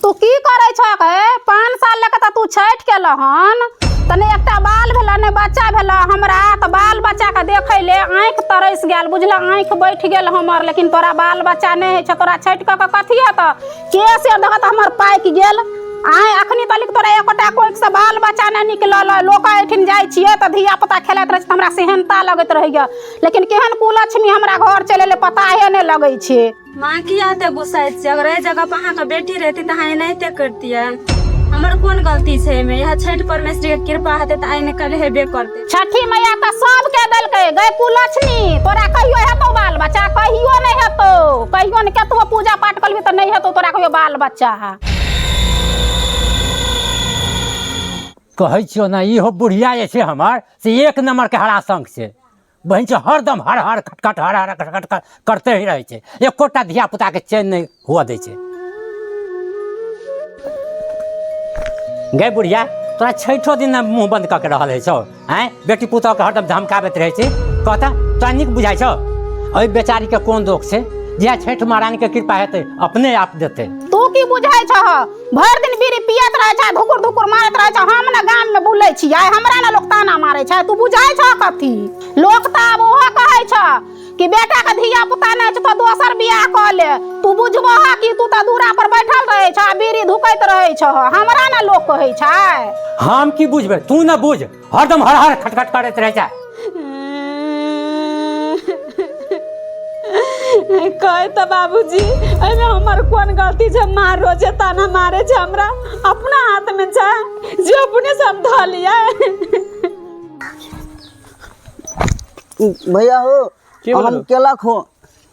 तू की करै छ हे पाँच साल लऽ कऽ तऽ तू छठि केलऽ हन तने एकटा बाल भेलऽ ने बच्चा भेलऽ हमरा तऽ बाल बच्चाके देखै ले आँखि तरस गेल बुझलऽ आँखि बैठ गेल हमर लेकिन तोरा बाल बच्चा नहि होइ छै तोरा छठि कऽ कऽ कथी हेतऽ के से देखऽ तऽ हमर पाकि गेल आँय अखनी तलिक तोरा एकोटा कोखिसँ बाल बच्चा नहि निकलल अइ लोक एहिठिन जाइ छियै तऽ धियापुता खेलाइत रहै छै तऽ हमरा सेहनता लगैत रहैए लेकिन केहन कुलक्ष्मी हमरा घर चलि एलै पताहे नहि लगै छै माँ किया एते गुस्साइ छियै अगर एहि जगह पर अहाँके बेटी रहती तऽ अहाँ एनाहिते करतियै हमर कोन गलती छै एहिमे इएह छठि परमेश्वरी के कृपा हेतै तऽ आइ ने कल हेबे करतै छठी मैया तऽ सबके देलकै गै कुलक्ष्मी तोरा कहियो हेतौ बाल बच्चा कहियो नहि हेतौ कहियो ने केतबो पूजा पाठ करबी तऽ नहि हेतौ तोरा कहियो बाल बच्चा कहै छियौ ने इहो बुढ़िया जे छै हमर से एक नम्बरके हराशंक छै बहन छै हरदम हर हर खटखट हर हर खटखट कर- करते ही रहै छै एकोटा धिया पुताके चैन नहि हुअ दै छै गै बुढ़िया तोरा छठो दिन ने मुँह बंद कऽ के रहल है छौ आँय बेटी पुतौहके हरदम धमकाबैत रहै छै कहता तोरा नीक बुझाइ छौ ओहि बेचारीके कोन दोष छै जहिया छठि महारानीके कृपा हेतै अपने आप देतै तू की बुझाइ छह भरि दिन बीड़ी पियत रहै छै धुकुर धुकुर मारैत रहै छै हम ने गाममे बुलै छियै हमरा ने लोक ताना मारै छै तू बुझै छऽ कथी लोक तऽ आब ओहो कहै छऽ कि बेटाके धिया पुता नहि छै तऽ दोसर बियाह कऽ ले तू बुझबो हँ कि तू तऽ दूरा पर बैठल रहै छऽ बीड़ी धुकैत रहै छऽ हमरा ने लोक कहै छै हम की बुझबै तू ने बुझ हरदम हर हर खटखट करैत रहै छै कहे तऽ बाबूजी एहिमे हमर कोन गलती छै माँ रोजे ताना मारे छै हमरा अपना हाथमे छै जे अपने से हम धऽ लियै भैया हो की हम बोलू? केला खो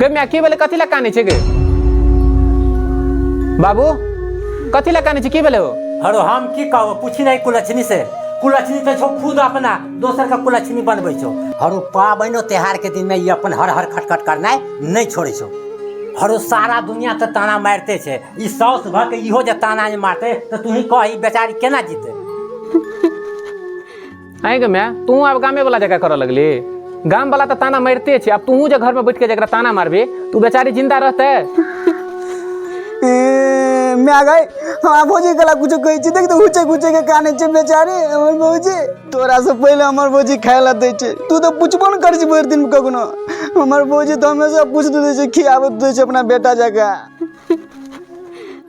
गे माय की भेलै कथी लए कानै छै गे बाबू कथी लए कानै छै की भेलै हो हरो हम की कहबो पूछी नहीं कुलछनी से कुलछनी तो छो खुद अपना दोसर का कुलछनी बनबै छो हरो पाबनो त्योहार के दिन में ये अपन हर हर खटखट करनाइ नहीं छोड़े छो हरो सारा दुनिया तो ताना मारते छे ई साउस भ के इहो जे ताना जे मारते तो तू ही कह ई बेचारी केना जीते आइ गे माय तू आब गामे वाला जगह करऽ लगली गाम वाला तऽ ताना मारिते छै आब तूहू जे घर में बैठ के जकरा ताना मारबी तू बेचारी जिंदा रहते ए, माय गई हमरा भौजी कला कुछो कहै छै देख तऽ हुचे हुचे के काने छै बेचारे हमर भौजी तोरा से पहिले हमर भौजी खाय ला दै छै तू तऽ पुछबो ने करै छी भरि दिन कखनो हमर भौजी तऽ हमेशा पूछते दै छै खियाबैत दै छै अपना बेटा जकाँ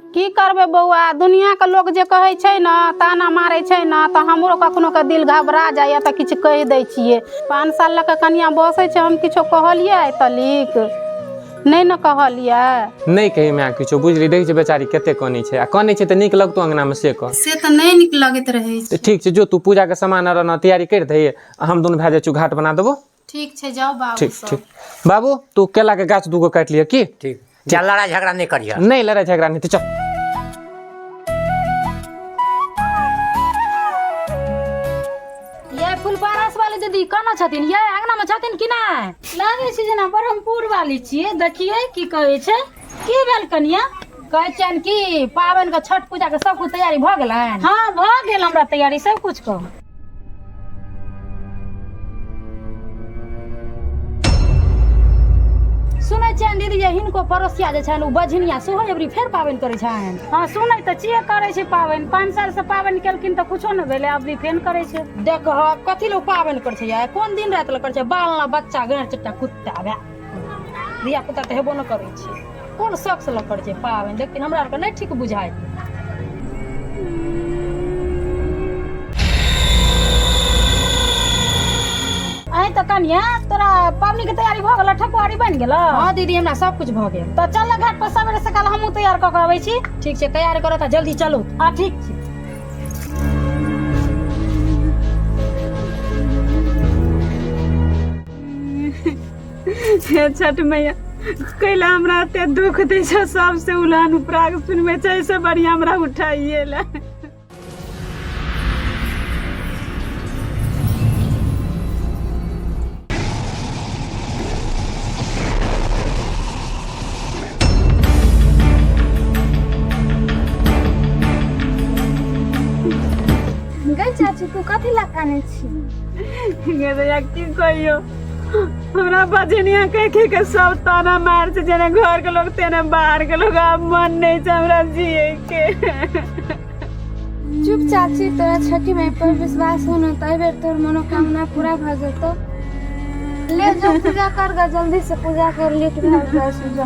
की करबै बौआ दुनियाके लोक जे कहै छै ने ताना मारै छै ने तऽ हमरो कखनो के दिल घबरा जाइए तऽ किछु कहि दै छियै पाँच साल लऽ कऽ कनिया बसै छै हम किछो कहलियै आइ तलिक नहि ने कहलियै नहि कही माय किछो बुझली देखै छै बेचारी कते कनै छै आ कनै छै तऽ नीक लगतो अंगनामे से कह से तऽ नहि नीक लगैत रहै छै तऽ ठीक छै जो तू पूजाके सामान आर ने तैयारी करि दही आ हम दुनू भए जाइ छी घाट बना देबो ठीक छै जाउ बाबू ठीक सब ठीक बाबू तू केला के गाछ दूगो काटि लिअ की ठीक जा लड़ाइ झगड़ा नहि करिह नहीं लड़ाई झगड़ा नहीं तो चल ये फुलपारस वाली दीदी कहाँ छथिन ये अंगना में छथिन कि नहीं लागे छै जेना ब्रह्मपुर वाली छियै देखियै की कहै छै की भेल कनिया कहै छियनि कि पाबनिके छठ पूजाके सब कुछ तैयारी भऽ गेलनि हँ भऽ गेल हमरा तैयारी सब कुछ कऽ सुनै छियनि दीदी जे हिनको पड़ोसिया जे छनि ओ बझनिया सेहो एबरी फेर पाबनि करै छनि हँ सुनै तऽ छियै करै छै पाबनि पाँच सालसँ पाबनि केलखिन तऽ कुछो नहि भेलै अबरी फेर करै छै देखह कथी लए ओ पाबनि करै छै यै? कोन दिन राति लए करै छै बाल ना बच्चा गैर चट्टा कुत्ता भए धिया पुता तऽ हेबो ने करै छै कोन शौकसँ लऽ करै छै पाबनि देखथिन हमरा आरके नहि ठीक बुझाइ अहीं तऽ कनिया तोरा पाबनिके तैयारी भऽ गेल ठकुआरी बनि गेल हँ दीदी हमरा सब कुछ भऽ गेल तऽ चल ने घाट पर सवेरे सकाल हमहूँ तैयार कऽ के अबै छी ठीक छै तैयार करऽ तऽ जल्दी चलू हँ ठीक छै हे छठ मैया कैला हमरा एते दुख दै छै सबसे उलान उपराग सुनबै छै से बढ़िया हमरा उठाइए ले गई चाची तू कथी लकाने की कहियो हमरा बजनिया कह के के सब ताना मार छै जेने घर के लोग तेने बाहर के लोग आब मन नहीं छै हमरा जिए के चुप चाची तोरा छठी माई पर विश्वास हो न तय बेर तोर मनोकामना पूरा भ जेतो ले जो पूजा कर गा जल्दी से पूजा कर ले तू घर जा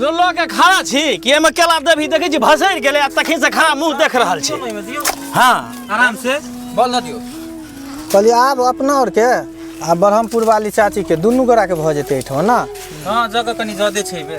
जो लऽ के खड़ा छी कि एहिमे केला देबही देखै छी भसरि गेलै आ तखन से खड़ा मुँह देख रहल छी हँ आराम से बल न दियो कहलिए आब अपना आरके आ ब्रह्मपुर वाली चाचीके दुनू गोराके भऽ जेतै एहिठाम ने हाँ जगह कनी ज्यादे छै बे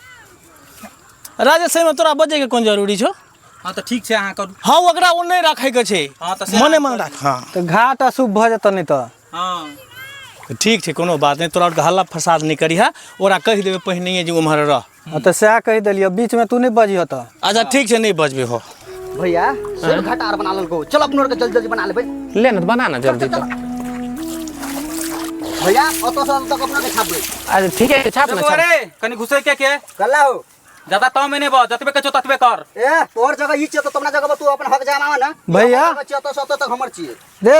राजेश एहिमे तोरा बजैके कोन जरूरी छौ हँ तऽ ठीक छै अहाँ करू हँ ओकरा ओ नहि राखैके छै हँ तऽ से मने अहाँ मन करू। राख हँ तऽ घाट अशुभ भऽ जेतऽ नहि तऽ हँ ठीक छै कोनो बात नहि तोरा आरके हल्ला फसाद नहि करिहा ओकरा कहि देबै पहिनहिए जे उम्हर रह हँ तऽ सएह कहि देलियौ बीचमे तू नहि बजिहऽ तऽ अच्छा ठीक छै नहि बजबै हो भैया सेब घाटा आर बना लेलको चल अपनो के जल्दी जल्दी बना लेबै ले ना बना ना जल्दी तो भैया ओतो से तक अपना के छापबै अरे ठीक है छाप ना छाप अरे कनी घुसे के के कल्ला हो ज्यादा ताव में नहीं बा जतबे के ततबे कर ए तोहर जगह ई छियै तो तुमना जगह पर तू अपन हक जमावा ना भैया। हमर जगह छियै तो सब तक हमर छियै दे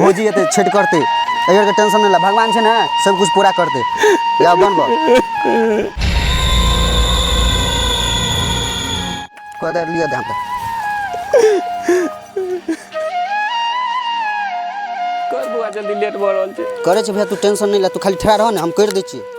भौजी एतै छठि करतै एहि बेरके टेंशन नहि ला भगवान छै ने सब कुछ पूरा करतै या बन बन कदर लिअ ध्यान पर कर बुआ जल्दी लेट भऽ रहल छै करै छै भैया तू टेंशन नहि ला तू खाली ठहरा रह ने हम करि दै छियै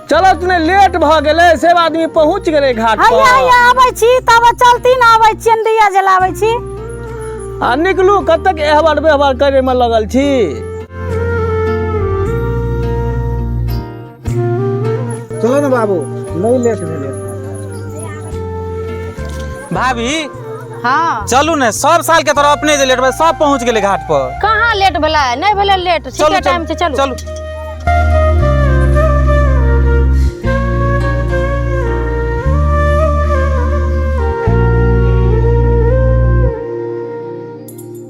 चलत ने लेट भऽ गेलै सब आदमी पहुँच गेलै घाट हैया पर हैया आबै छी तब चलती न आबै छी दिया जलाबै छी आ निकलू कतेक एहबर बेहबर करे में लगल छी चलो ने बाबू नहीं लेट भेले भाभी हाँ चलू ने सब साल के तरह अपने जे लेट बा सब पहुंच गेले घाट पर कहाँ लेट भेला नहीं भेला लेट ठीक चलू, है टाइम से चलू चलू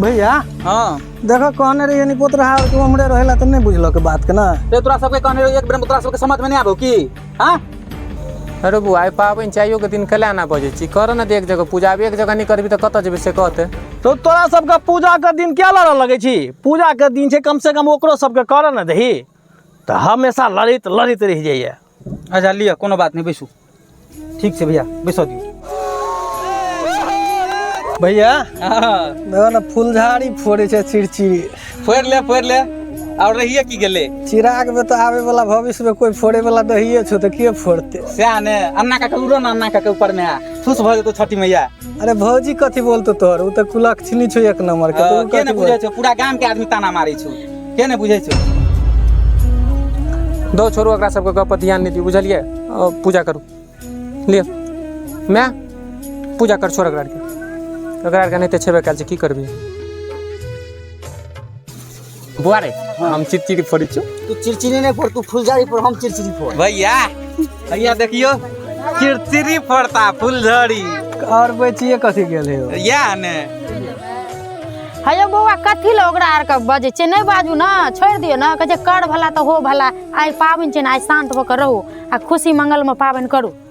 भैया हाँ देखो कहने रही नहीं पोत रहा तू हमरे रहेला तो नहीं बुझलो के बात के ना तो तोरा सबके कहने रहो एक बेर में तोरा सबके समझ में नहीं आबो की हाँ अरे बुआ पाबनि चाहियो के दिन कला ना बजे छी कर ना देख जगह पूजा एक जगह नहीं करबी तो कत जेबे से कहते तो तोरा सबके पूजा के दिन क्या लड़ऽ लगे छी पूजा के दिन छै कम से कम ओकरो सबके करऽ ने दही तऽ हमेशा लड़ैत लड़ैत रहि जाइए अच्छा लिअ कोनो बात नहि बैसू ठीक छै भैया बैसऽ दियौ भैया देखो ना फुलझाड़ी फोड़े छै चिड़चिड़ी फोड़ ले फोड़ ले और रहिए की गेले चिराग में तो आवे वाला भविष्य में कोई फोड़े वाला नहीं छो तो के फोड़ते सएह ने अन्ना काका उड़ो ने अन्ना काका ऊपर में फुस भऽ जेतौ छठी मैया अरे भौजी कथी बोलतो तोहर उ त कुलक्षणी छौ एक नंबर के तू के ने कथी बुझै बोल छौ पूरा गाम के आदमी ताना मारै छौ के ने बुझै छौ दो छोड़ू एकरा सबके गप पर ध्यान नहि दियौ बुझलियै अ, पूजा करू लिअ माय पूजा कर छोड़ एकरा आरके एकरा आरके नहि तऽ छेबे कयल छै की करबी बुआ रे हम चिरचिरी फोड़ी छु तू चिरचिरी नहीं फोड़ तू फुलझड़ी फोड़ हम चिरचिरी फोड़ भैया भैया देखियो चिरचिरी फोड़ता फुलझड़ी और बचिए कथी गेल हे ओ? या ने हयो बौआ कथी लए ओकरा आर के बजै छै नहि बाजू ने छोड़ि दियौ ने कहै छै कर भला तऽ हो भला आइ पाबनि छै ने आइ शान्त भऽ कऽ रहू आ खुशी मंगलमे पाबनि करू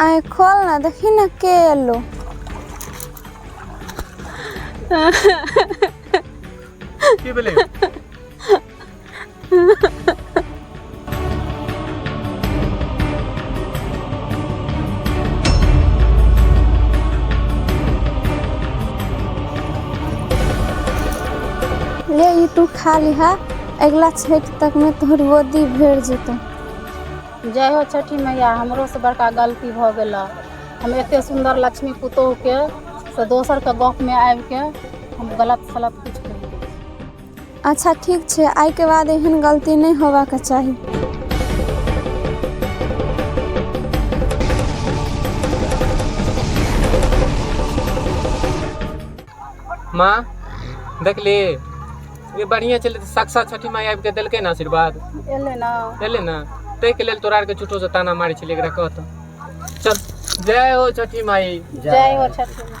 आँखि खोल ने देखी ने के एलो की भेलै ले ई तू खा लिहा अगिला छठि तकमे तोहर गोदी भरि जेतौ जय हो छठि मैया हमरो से बड़का गलती भऽ गेलऽ हम एते सुन्दर लक्ष्मी पुतोहु के से दोसर के गप में आबि के हम गलत सलत कुछ कहि दै छी। अच्छा ठीक छै आइ के बाद एहन गलती नहि होबाक चाही माँ देखली ई बढ़िया चले तऽ साक्षात छठी माई आबि के देलकै ने आशीर्वाद एलै ना एले ना ताहि के लेल तोरा आर के झूठो से ताना मारे छलिए एकरा कहत चल जय हो छठी माई जय हो छठी माँ